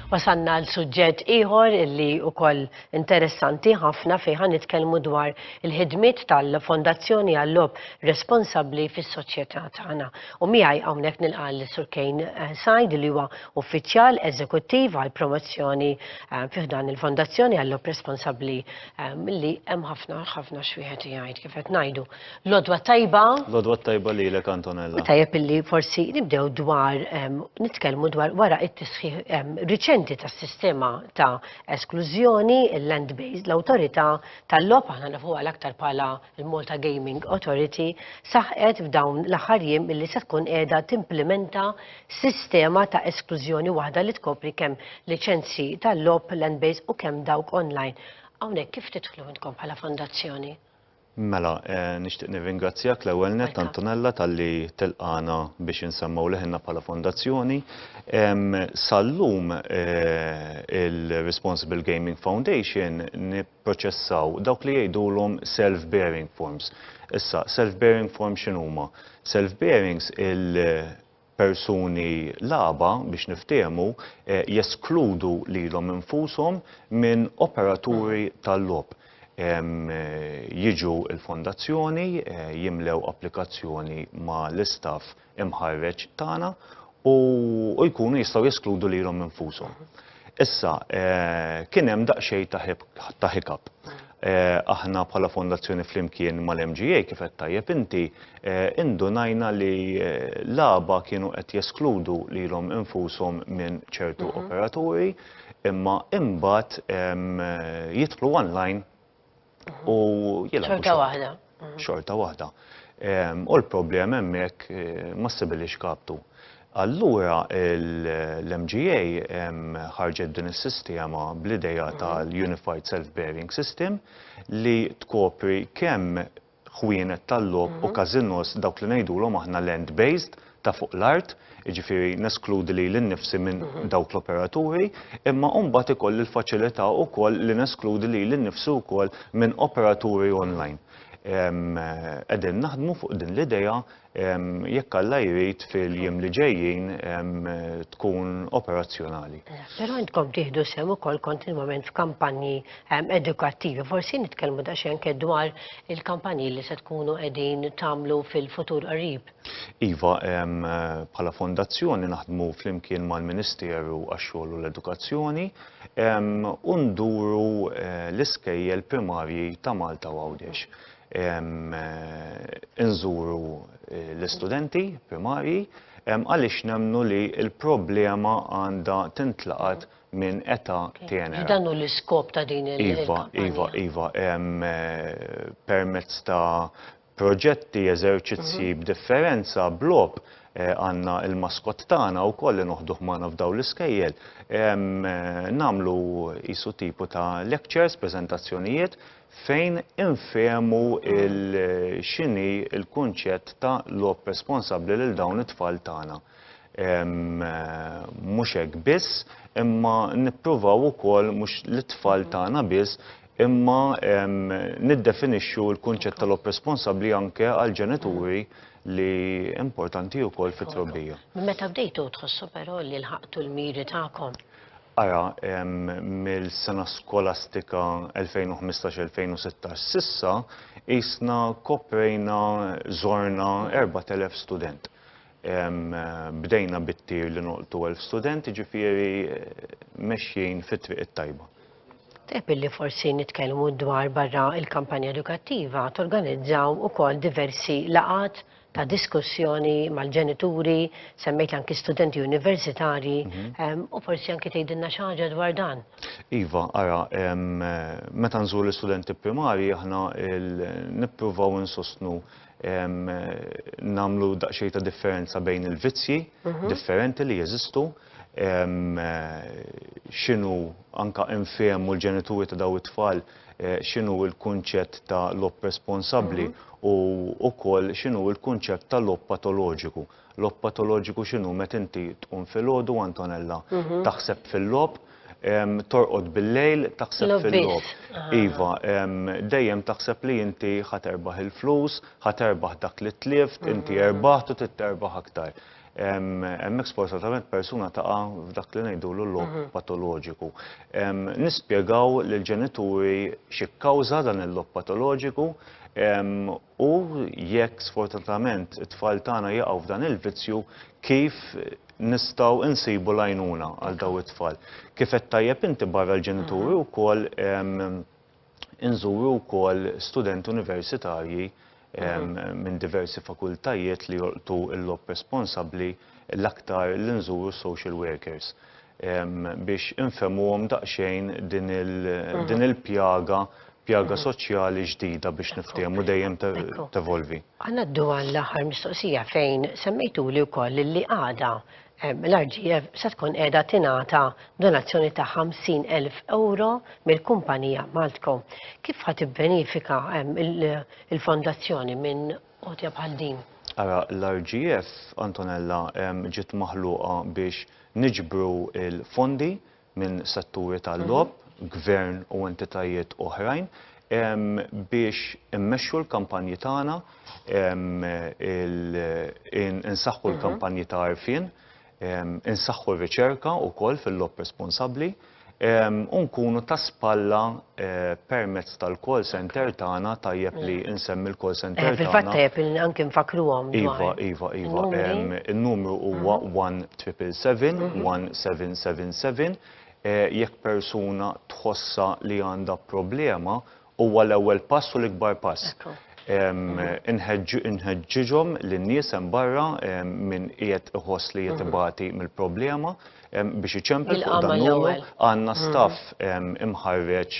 Wasanna l suġġett ieħor li wkoll interessanti ħafna fejn ħan nitkellmu dwar il-ħidmiet tal-Fondazzjoni għall-Lob responsabbli fis-soċjetà tagħna. U miegħi hawnhekk nilqal Sur Kejn eh, Sajd li huwa uffiċjal eżekuttiv għall promozzjoni eh, fih dan il-Fondazzjoni għall-Lob responsabbli Li hemm ħafna ħafna x'wieħed jgħid kif qed ngħidu. Lodwa tajba. Lodwa tajba lilek Antonella. Tajjeb illi forsi nibdew dwar nitkellmu dwar wara it-tisħiħ riċenti tas-sistema ta' esklużjoni il-land based l-awtorità tal-logħob aħna nafu għal aktar bħala l-Malta Gaming Authority saħqet f'dawn l-aħħar jiem illi se tkun qiegħda timplimenta sistema ta' esklużjoni waħda li tkopri kemm liċenzji tal-logħob land-based u kemm dawk online. Hawnhekk kif tidħlu intkom bħala fondazzjoni? Mela, nixtieq nirringrazzjak l-ewwel nett, Antonella, talli tilqagħna biex insemmew leħinna bħala fondazzjoni. Sal-lum il-Responsible Gaming Foundation jipproċessaw dawk li jgħidulhom self-bearing forms. Issa, self-bearing forms x'inhuma? Self-bearings il-persuni l-għaba, biex niftiehmu, eh, jeskludu lilhom infushom minn operaturi tal-logħob. Jiġu l-fondazzjoni, eh, jimlew applikazzjoni ma' l-istaff imħarreġ tagħna u jkunu jistgħu jeskludu lilhom infushom. Issa, kien hemm daqsxejn ta' hiccup. Aħna bħala fondazzjoni flimkien mal-MGA kif qed tajjeb inti, indunajna li l-għaba kienu qed jeskludu lilhom infushom minn ċertu operaturi imma imbagħad jidħlu online u jilagħbu. Xorta waħda. Xorta waħda. U l-problema hemmhekk eh, ma sibilix kaptu. Allura l-MGA ħarġet din is-sistema bl-ideja mhm. tal-Unified Self-Bearing System li tkopri kemm ħwienet tal-lob u mhm. kazinos dawk li ngħidulhom aħna land-based ta' fuq l-art, jiġifieri neskludi lili nnifsi minn dawk l-operaturi, imma mbagħad ikolli l-faċilità wkoll li neskludi lili nnifsi wkoll minn operaturi online. Qegħdin naħdmu fuq din l-idea, jekk Alla jrid fil-jiem li ġejjin tkun operazzjonali. Però intkom tieħdu sehem ukoll kontinwament f'kampanji edukattivi. Forsi nitkellmu daqsxejn anke dwar il-kampanji li se tkunu qegħdin tagħmlu fil-futur qarib. Iva, bħala fondazzjoni naħdmu flimkien mal-Ministeru għax-Xogħol u l-Edukazzjoni u nduru l-iskejjel primarji ta' Malta u Għawdex. Inżuru l-istudenti primarji għaliex nemmnu li l-problema għandha tintlaqat minn età tenera. Iva, dan hu l-iskop ta' din il-kampanja. Iva, iva, iva. Permezz ta' proġetti, eżerċizzji b'differenza, b'logħob, għandna l-maskott tagħna wkoll li noħduh magħna f'dawn l-iskejjel. Nagħmlu qisu tipu ta' lectures, preżentazzjonijiet, fejn infehmu x'inhi l-kunċett ta' logħob responsabbli lil dawn it-tfal tagħna. Mhux hekk biss, imma nippruvaw ukoll mhux lit-tfal tagħna biss, imma niddefinixxu l-kunċett tal-għob responsabbli anke għall-ġenituri li importanti wkoll fit-trobbija. Minn meta bdejtu tħossu però li lħaqtu l-miri tagħkom? Ara, mill-sena skolastika 2015-2016 s'issa, qisna koprejna, żorna 4,000 student. Bdejna bit-tir li nolqtu elf student, jiġifieri mexjin fit-triq it-tajba. Tajjeb illi forsi nitkellmu dwar barra l-kampanja edukattiva torganizzaw ukoll diversi laqgħat ta' diskussjoni mal-ġenituri, semmejt anki studenti universitarji, u forsi anki tgħidilna xi ħaġa dwar dan. Iva, ara, meta nżuru l-istudenti primarji aħna nippruvaw insostnu nagħmlu daqsxejn ta' differenza bejn il-vizzji mhm. differenti li jeżistu x'inhu anka infehmu l-ġenituri ta' daw it-tfal eh, x'inhu l-kunċett ta' lob responsabbli mhm. u wkoll x'inhu l-kunċett ta' lob patoloġiku. Logħob patoloġiku x'inhu meta inti tqum filgħodu Antonella taħseb fil-logħob, torqod bil-lejl taħseb fil-logħob. Iva, dejjem taħseb li inti ħa terbaħ il-flus, ħa terbaħ dak li tlift, inti erbaħt u trid terbaħ aktar. Hemmhekk sfortunatament persuna taqa' f'dak li ngħidulu l-logħob patoloġiku. Nispjegaw lill-ġenituri xi kkawża dan il-logħob patoloġiku U jekk sfortunatament it-tfal tagħna jaqgħu f'dan il-vizzju, kif nistgħu insibu l-għajnuna għal dawn it-tfal? Kif għedt tajjeb inti barra l-ġenituri mhm. wkoll inżuru wkoll studenti universitarji mhm. minn diversi fakultajiet li jolqtu l-lob responsabbli l-aktar li nżuru s-social workers biex infehmuhom daqsxejn din il-pjaga, pjaga soċjali ġdida biex niftehmu dejjem tevolvi. Ħa ngħaddu għall-aħħar mistoqsija fejn semmejtuli wkoll li għada l-RGF se tkun qiegħda tingħata donazzjoni ta' 50,000 euro mill-kumpanija Maltco. Kif ħa tibbenifika l-fondazzjoni minn għotja bħal din. Ara l-RGF, Antonella, ġiet maħluqa biex niġbru l-fondi minn setturi tal-logħob, gvern u entitajiet oħrajn biex immexxu l-kampanji tagħna, insaħħu l-kampanji ta' għarfien, insaħħu r-riċerka wkoll fil-logħob responsabbli u nkunu ta' spalla permezz tal-call center tagħna tajjeb li nsemmi l-call center tagħna. Fil-fatt tajjeb li anke nfakkruhom. Iva, iva, iva. In-numru huwa 1777 jekk persuna tħossha li għandha problema Huwa l-ewwel pass u l-ikbar pass. Inħeġġiġhom lin-nies hemm barra min qiegħed iħoss li qiegħed ibati mill-problema biex iċempel fuq dan l-ewwel. Jilqagħhom l-ewwel. Għandna staff imħarreġ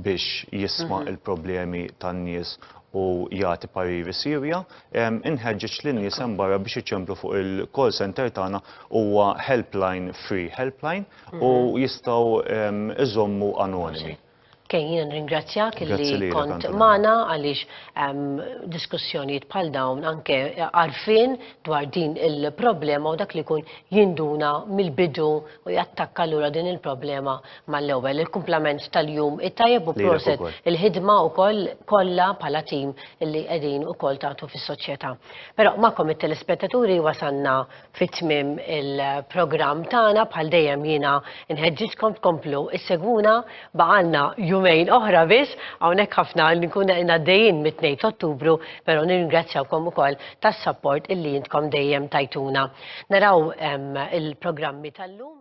biex jisma' l-problemi tan-nies u jagħti pariri siewja. Inħeġġeġ lin-nies hemm barra biex iċemplu fuq il-call centre tagħna huwa helpline free helpline u jistgħu iżommu anonimi. Kay, jiena nringrazzjak li kont magħna għaliex diskussjonijiet bħal dawn anke għarfien dwar din il-problema u dak li jkun jinduna mill-bidu u jattakka lura din il-problema mal-ewwel. Il-kumplament tal-jum it-tajjeb u proset il-ħidma wkoll kollha bħala tim li qegħdin ukoll tagħtu fis-soċjetà. Però magħkom it-telespettaturi wasanna fi tmiem il-programm tagħna bħal dejjem jiena nħeġġiġkom tkomplu issegwuna baqgħalna jumejn oħra biss hawnhekk ħafna li nkun għaddejjin mit-2 t'Ottubru però nirringrazzjawkom ukoll tas-sapport illi intkom dejjem tajtuna. Naraw il-programmi tal-lum.